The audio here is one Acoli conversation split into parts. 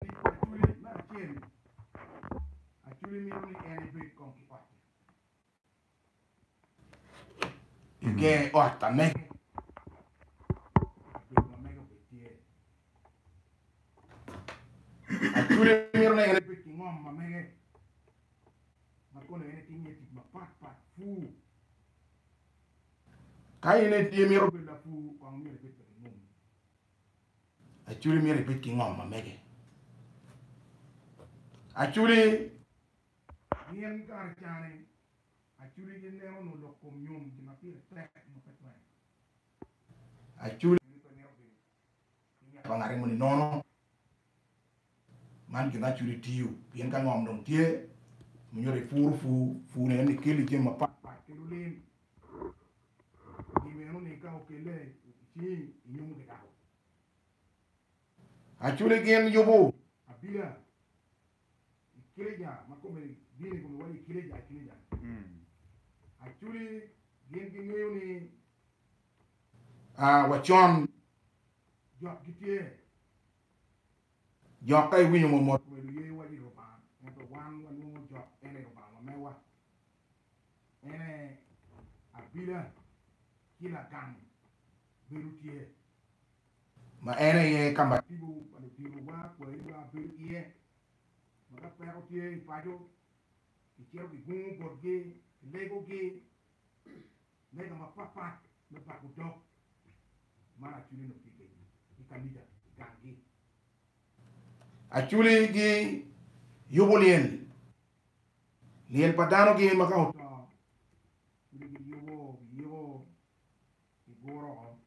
Tic pa Aculi me acel-li, Aculi mito ni en ebed kong ki otte keken i ot ka mege, kabedo ma mege obed tye. Aculi mito ni en ebed ki ngom ma mege ma kono en etim iye tic mapat pat pur. Ka in imito bedo lapur, kong myero ibed ka gingomi. Achuli myero ibed ki ngom ma mege. Achuli gin kare cane Achuli gineno nwo lok kom nyom gin ma pire tek nyo pe twero. Achuli pe mito bedo ki ngat ma ngate moni nono. Man gin ma culi tiyo pien ka ngom dong tye ma nyuto ipuro pur, pur eni ni keli jami mapat pat kelo lim i meno ni ka okelle i cingi inyumo ki dako. Aculi gin yubo abila i kileja ma kome bino i kome waco i kileja i kileja aculi gin gingeyo ni wa con Jok gitye jok ka iwinyo mo mot me luye wa i Lubanga ento wan wanwongo jok en aye Lubanga wa mewa en aye abila ki lagang bedo tye ma en aye ka ma tipo pa ludito wa kwayi wa bedo iye ma ka peko tye i paco ki cito ki gungo botgi ki lego gi lega mapatpat me pako dog mar Achuli nongo tye kedgi i kanica i ganggi. Achuli giyubo lyel, lyel pa danogi ma ka oto Achuli giyubo, giyiko, giguro woko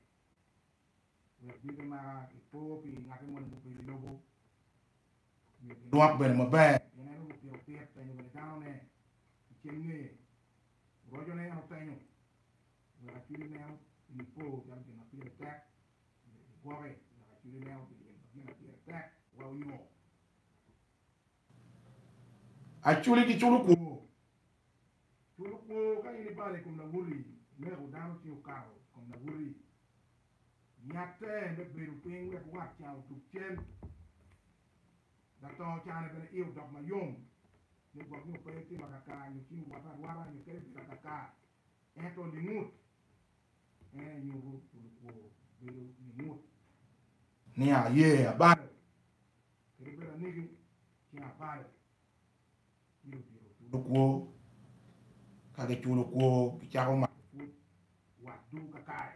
wek dyegi maka gipo pi ngati moni mubedo i lobo nyo ginwok bene maber. Pien en onongo pito pit penyo bene danone i ceng ngeye Rocone en otenyo wek acwili meno pi po calo gin ma pire tek, myero gigwoke wek acwili meno pi gin ma gine pire tek wa onyo acwili ki culo kwo. Culo kwo, Ka in ibalo i kom lawoti, ineko dano ci okato i kom lawoti, yatte me bedo piny wek wat ca odug cen. Latongo cane bene iye odok mayom me gwok nyo pe itimo akaka nyo cim iwata arwata nyo kadi ibedo akaka. Ento lingut en aye nyuto pi lukwo bedo lingut. Ni aye abalo kadi bedo anigi cen abalo myero odito culo kwo. Ka giculo kwo gicako mato pwod watgi kakare.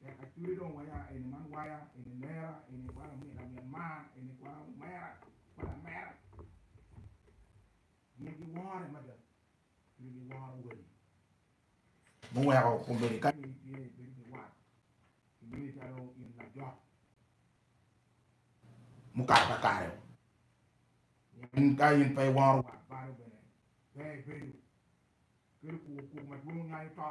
Tek acwee dong waya eni man waya eni lera eni wa lamin lamin mar eni kwara omera wa lamera gin gi wore mada gin gi woro wadi mu weko komedi ka in itye ibedo ki wat imini calo in lajok mu kato ka kare in ka in pe iworo wat balo bene pe ibedo kelo kuku kuku madwong nyanyo to.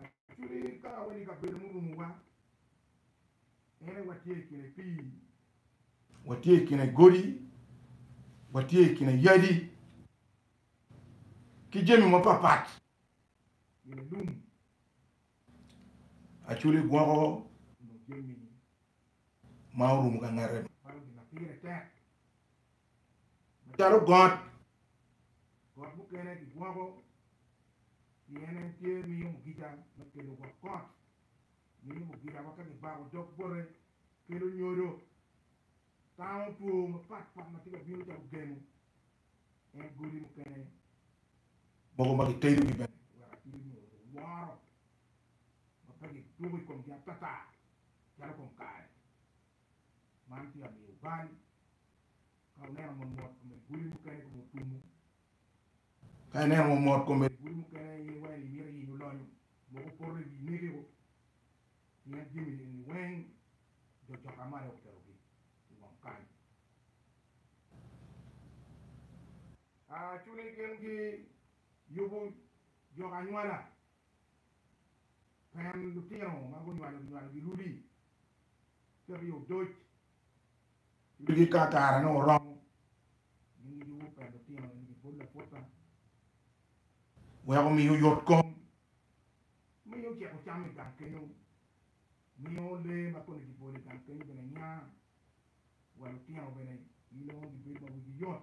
Actually ka awaco ni kabedo murumowa ene watye i kine pii, watye i kine godi, watye i kine yadi ki jami mapapat gire lum. Actually gwoko onongo jami ma orumo ka ngete balo gin ma pire tek. macalo got, got mukene kigwoko pien en tye miyo mugica me kelo gwok got, miyo mugica ma ka kibako dog bote kelo nyodo, tango two mapat pat ma tye ka bino calo gemo, en godi mukene mogo ma kitedo gi bene wek atidi nyo woro ma pe gidwogo i komgi atata calo kom kare. Man tye amiyo bal ka ineno ma mot kome guli mukene kome otumo. Ka ineno ma mot kome guli mukene in iwaco ni imito yenyo lonyo mogo poto i wi mege-gu pien jami eni weng jo coka ma aye okelogi i wang kany. Cwiny gingi yubo jok anywala Pang lutino ma gunywalo ginywalo girudi cito i odoc wigi ka kare nongo oromo. Gin gijuko pa lutino eni pi pol laputa wek omi oyot kom, miyo oceko cam i gang kenyo, miyo lee ma kome kibolo i gang kenyo bene nya, wa lutino bene gin nongo gibedo ma wigi yot.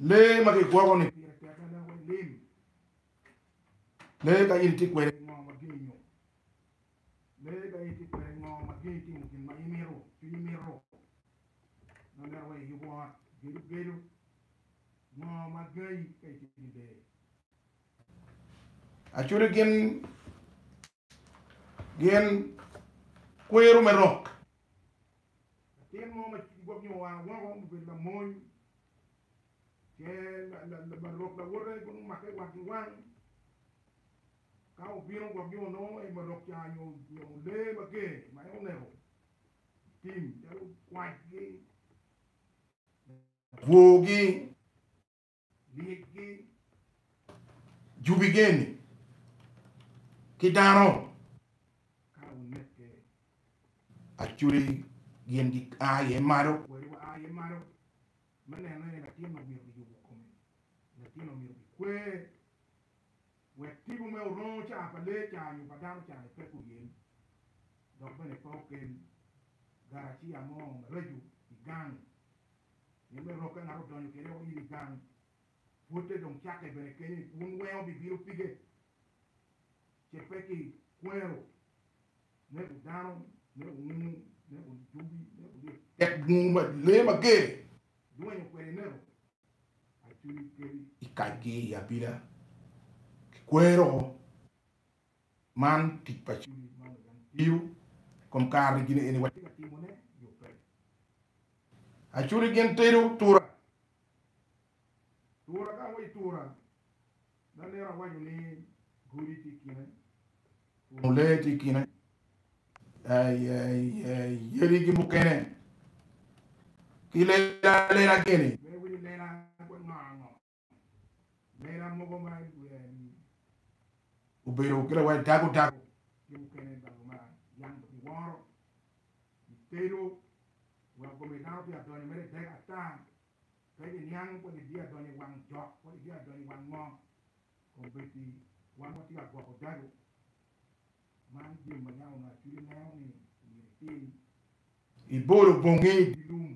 Lee ma kigwoko-ni pire tek mada wek lim. Lee ka in itye kwede ki ngo ma gin inyo lee ka in itye kwede ki ngo ma gin itimo gin ma imito, cwinyi mito ma mito wek iyub ot, gedo gedo, ngo ma gangi ka itye ki lee. Actually gin Gin kwero me roc. Latin mo ma gwobnyo wange woko mubedo lamony, ce marok lawote bino make wang ki wang. Ka obino gwobnyo onongo en marok ca nyo onongo lee mager ma en oneko i tim calo kwacgi, bwor gi. Lyecgi jubi geni ki dano ka wuneke. Acudi gin gia iye malo. Kwel wa iye malo. Me neno ene latin omyero giyubu kome. Latin omyero gikwer wek tipo me orongo caa pa lee caa nyo pa dano caa ni pe guyem dok bene pe okel garacia mo maracu igang. Pien me rok ka ngat odonyo kene woko in i gang, pwotte dong cakke bene kenyo i kun wengo bibino pige, ce pe ki kwero, neko dano, neko ngungu, neko dubi, neko lye tek ngungu ma lee mager dwenyo kwede i neko, acwiny kebi i kacgi i abila ki kwero. Man tic pa Cwiny ma Lubanga tiyo kom kare-ni gin eni watye ka timone nyo pe? Acuri gin tedo tura. Tura ka awaco tura, da nera waco ni godi tye i kine, puno lee tye i kine, yadi ki mukene ki lela lela gini. Iwero ni lela kwango ango? Lela mogo ma ilwela i wiye-ni obedo ki lawote dago dago ki mukene dago ma yam ki woro i tedo weko kome dano pe adonyo mere dek ata pe ki niang kodi biya donyo i wang jok kodi biya donyo i wang ngo kong bed ni wan watye ka gwoko dago man jami ma yam onongo acwidi neno ni omyero itim. Ibolo bongi i dye lum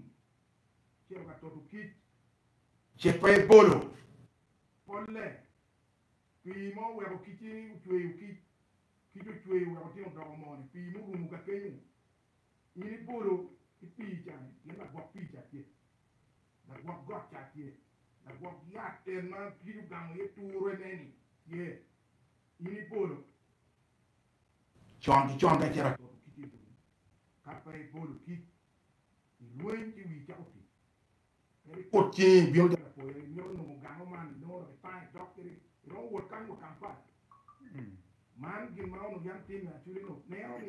cito ka toto kic, ce pe ebolo polle. Pii ma oweko kic-ci ocweyo kic, kic ocweyo weko tin odoko moo-ni, pii murumo ka kenyo. In ibolo ki pii ca-ni pien lagwok pii ca tye, lagwok got ca tye, lagwok yat en ma kic ogamo iye turene-ni tye. In ibolo con ki con ka icito ka toto kic-ci i boti, ka pe ibolo kic Kut cingi ibino calo apoya, imito nongo gamo man, inongo dok itango idok kede, iromo wot kany wa ka mapat. Man gin ma onongo yam timme acwiny onongo neno ni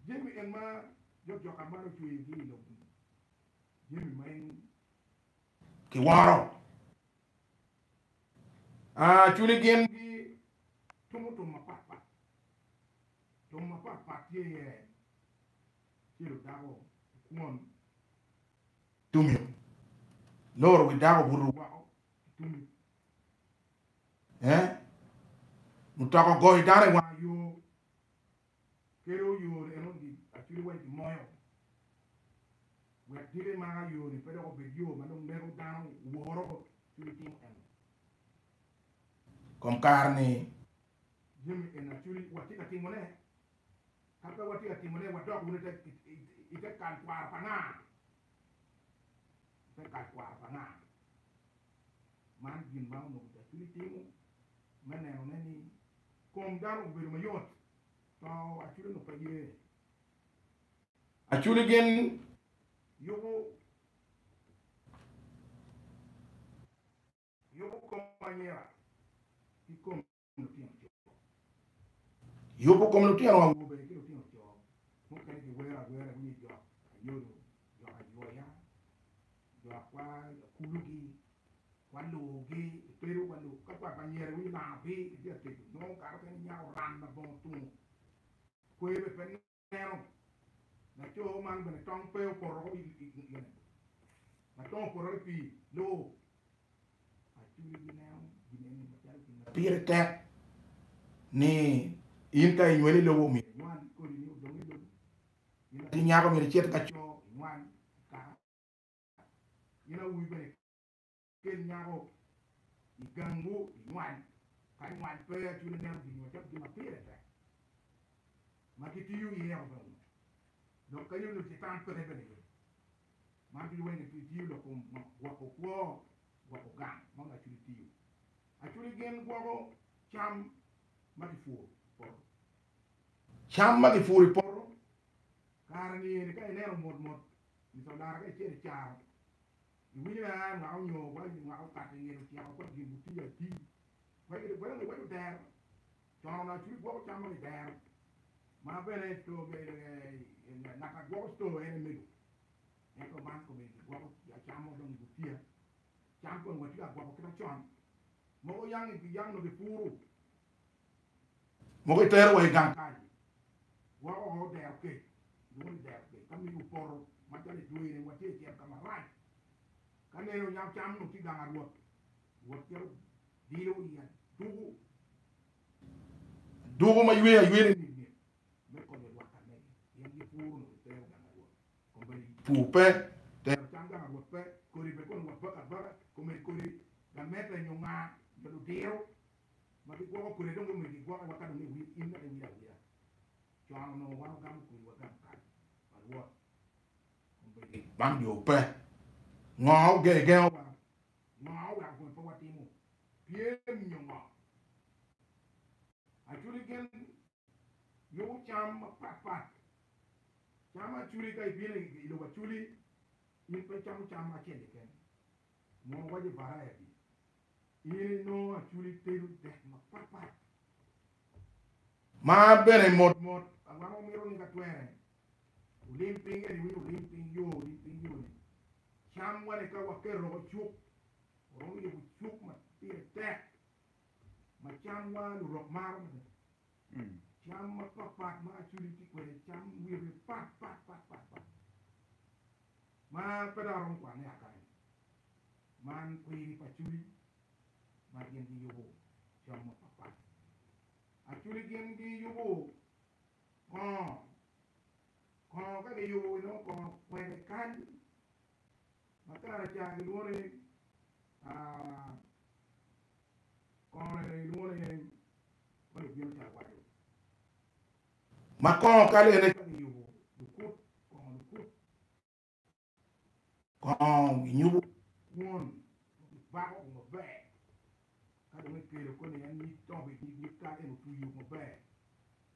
jami en ma jokjoka man ocweyogi i lobo-ni, jami ma en kiworo. Cwiny gin gitimo tum mapat pat, tum mapat pat tye iye cilo dako i kwon, tumi loro wi dako obuto woko ki tumi, mutoka ogoyo dano i wanga yo Kelo oyone en odil acwide weng ki moyo wek dile ma ayone pe dok obed yo ma dong lego dano woro bot cwiny timo en kom kare ni jami en acwide watye ka timo ne ka pe watye ka timo ne wadok wunu i te kal kwaro pa nga? I te kal kwaro pa nga? Man gin ma onongo Caculi timo me nenone ni kom dano obedo mayot. To Aculi onongo pe ye. Aculi gin yubo yubo kom anyira ki kom Yubo kom lutino awobe ki lutino co mukene kiwero awera wiye jok ayodo, jok aywoya, jo akwa kulugi, kwa lugi, ipedo kwa lug ka kwa panyere winyo langa pi itye ateco nongo kato kene inyako ran labongo tungo kwer bene pe Eno, laco man bene tong pe opoto woko i gine, ma tong opotore i pii loo. Aculi gineno gin eni macalo gin ma pire tek ni in ka inyweli i lobo myero inywal i kodi ni odong i lobo. In latin nyako myero icit ka co, inywal, ikaka. In awobi bene Kel nyako i gangwu i nywany. Kadi nywany pe, Acu ineno gin macalo gin ma pire tek ma kitiyo iye yako bene ngut, dok kadi onongo Catan peke bene iye. Man ducu weng kitiyo lok kom gwoko kwo, gwoko gang ma onongo Acu itiyo. Acudi gin gwoko cam ma kipuro i poto. Cam ma kipuro i poto kare-ni eni ka ineno mot mot, Lucalara kacel icaro Iwinyo ni aa mwaka onyo wa i mwaka opakke nyen ocito kong gin gutiyo atir. Wek giti bwelo ni iwaco dero cono na curi gwoko cam moni dero ma bene ngat a gwoko store en emego. Ento man komeni ki gwoko cam mo dong i gutiya. Cam kong watye ka gwoko kita con. Mogo yang nongo ki puru. Mogo itero wa i gang kany, wa o dero kec, lwongo ni dero kec, ka miniwa poto macalo itwere, watye i cel ka marac. Ka nene onyam cam onongo tye i gang a Rwot, Rwot cito dilo i aduku, aduku ma ywe aywene mit mit, me konyo lwak ka nege, pien gipuro onongo gitero gang a Rwot, kombeddi pur pe, tero cam gang a Rwot pe, kodi pe kono wa baka abaka, kombeddi kodi gamette nyo ngaa nyo ludiro ma gigwoko kwede dong gimito gigwoke wa ka dong iwil in mere iwil awila. Con onongo wan ogamo kwiri wagam kal pa Rwot kombeddi bang jo pe. Ngo ogegengo wa? Ngo oweko kome pe watimo pyem nyo ngo? Actually gin nongo cam mapat pat, cam aculi ka ibino i lobo aculi in pe icamo cam acel keken mono waco variety in inongo aculi tedo dek mapat pat. Ma bene mot mot awako mito ni ka twere wulim piny eni winy wulim piny yo olim piny yo ni cam wa ni ka waketo woko cuk waromo yubo cuk ma pire tek. ma camwa lurok maro mada. Cam mapat pat ma Acholi tye kwede, cam wine pat pat pat pat pat ma pe dong aromo kwane akane. Man kwiri pa Acholi ma gin giyubo cam mapat pat. Acholi gin giyubo kongo, kongo ka giyubo inongo kongo kwede kany Matar acar gilwongo ni Kongone bene gilwongo ni Heng ma lugin acar waco. Ma kongo kale en aye kongo giyubo lukut kongo lukut kongo ginyubo kwon ma gibako kome maber ka dong gikelo koni en nyig tongo bene nyig nyig kal en otwi yok maber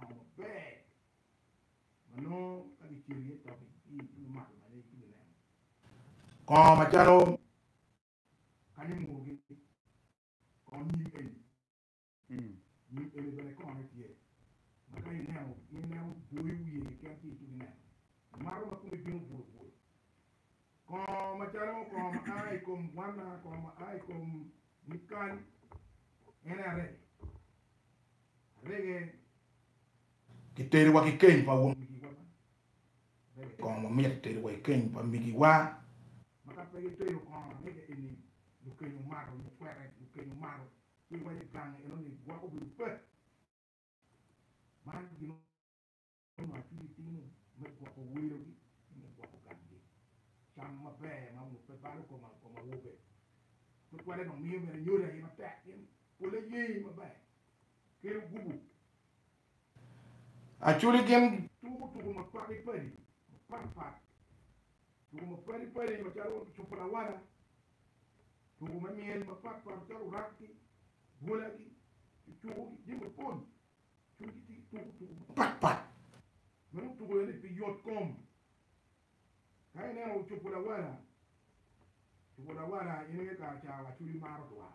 Ot maber ma nongo ka kicelo iye toki ci itwero mato bene ci kineno kongo macalo kany murogi kongo nyim eni nyim eni bene kongone tye ma ka ineno in ma iboyo wiye keken ci itwero neno mato ma kome bino bwolo bwolo kongo macalo kongo ma a i kom gwanna kongo ma a i kom nyig kal en aye arege. Arege giterowa ki keny pa won migiwa man. Arege kong wamit giterowa i keny pa migiwa ma ka pe gitero kong arege eni lukeny omato nyo kwete lukeny omato ci iwaco gang enoni gwoko bedo pe man gin Meno ma atye ka timo me gwoko welogi ki me gwoko gamgi. Cam maber ma ngubbe balo koma i kom awobe. Tutwalle dong miyo bene nyodi aye matek pien polle yee maber kelo gubu. Acoli gin. Tuko tuko mapadi padi mapat pat. Tuko mapadi padi macalo cupu lawala, tuko me myel mapat pat macalo rap-gi, bwola-gi, ki cuku-gi, jami mapol Kadi ki tic tuko tuko mapat pat ma dong tuko iye-ni pi yot kom. Ka ineno cupu lawala, cupu lawala in aye kara ca wa cwinyi maro dwa.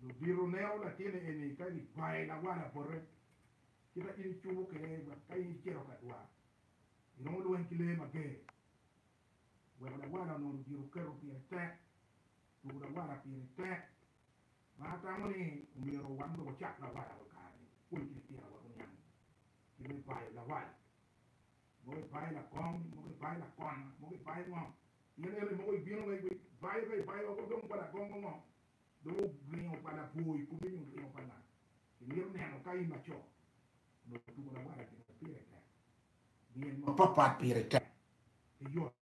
Lubito neno latinne eni ka gikwaye lawala bote, ci ka in icubo kwede wek ka in icito ka dwa, iromo lweny ki lee mager. Weko lawala onongo ludito keto pire tek, tuko lawala pire tek. ma atamo ni omyero wan dong wacak lawala wa kare-ni, pwony ki litinawa oniang kit me bayo lawala. Mogo ibayo lakong, mogo ibayo lakona, mogo ibayo ngo. Pien ento mogo ibino wa iwek bayo ka ibayo woko dong wa lagongo ngo? Dong oringo pa labwor i kome nyo oringo pa nga? Imito neno ka in laco onongo tuko lawala gin ma pire tek? Nyen mapat pat pire tek ki yot.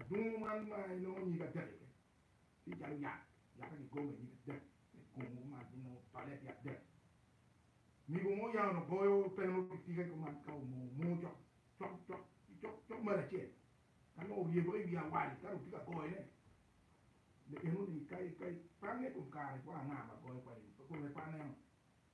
Adungu man ma inongo nyige adek iye tye calo yat, yatte gigomo iye nyige adek, tek gomo kuman ci nongo tole tye adek. Migo mo oyang onongo goyo teno ki tika kuman ka omoo moo cok cok cok ci cok cok malo acel ka nongo oryebewa iwi awali ka dong tye ka goyone me enoni ka ipange ikom kare kwar anga ma goyo kwede-ni pe kong ipaneno.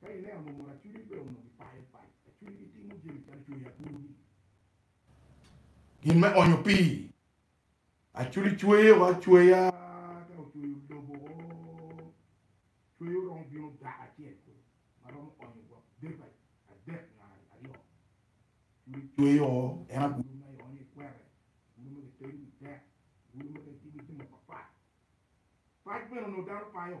Ka ineno murmur acwidi pe onongo gipayo pac, acwidi gitimo jami calo cweyo agulu-gi. Gin me onyo pii, Acwidi cweyo acweya ka ocweyo lobo o, cweyo romo bino dako acel kulu ma romo onyo gwok debe adek nyo aryo. Acwidi cweyo o, en agulu ma ionyo i kwete, agulu ma kitedo wi dek, agulu ma kitiyo ki jami mapat pat. Pac bene onongo dano payo.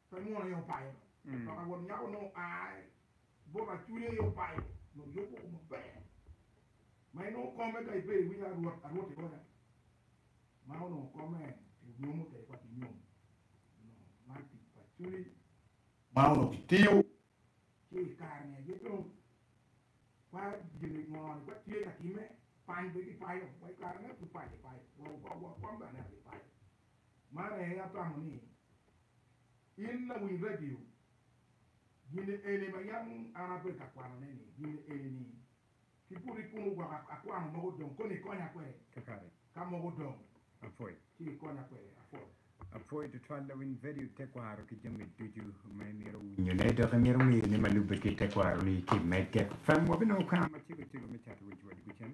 Pe mwono aye opayo dong, dok awot nyako nongo oae bot acude aye opayo nongo yub woko maber ma en nongo kome ka ibedo iwinyo arwot arwot ironya ma onongo kome pi nyomo tek ma ki nyomo nongo man tic pa cwiny ma onongo ki tiyo ci ikare ni aye dong wa gin ni ngo ni wa tye ka time pany pe ki payo wa ikare ne pu payo ipayo wa wa wa kwam bene aye payo. Man aye atamo ni in lawiny radio gin eni ma yam an abedo ka kwanone ni gin eni ni ki buto ikunu gwok akwano mogo dong koni ikonya kwede kakare ka mogo dong apwoy ci ikonya kwede apwoy. Apwoyi tutwal lawiny vedio tekwaro ki jami ducu ma imito winyo ne dok imito ngeyo ne ma lube ki tekwaro ni ki mege fem wabinongo kar macego cego me cato wic wa dugu cen.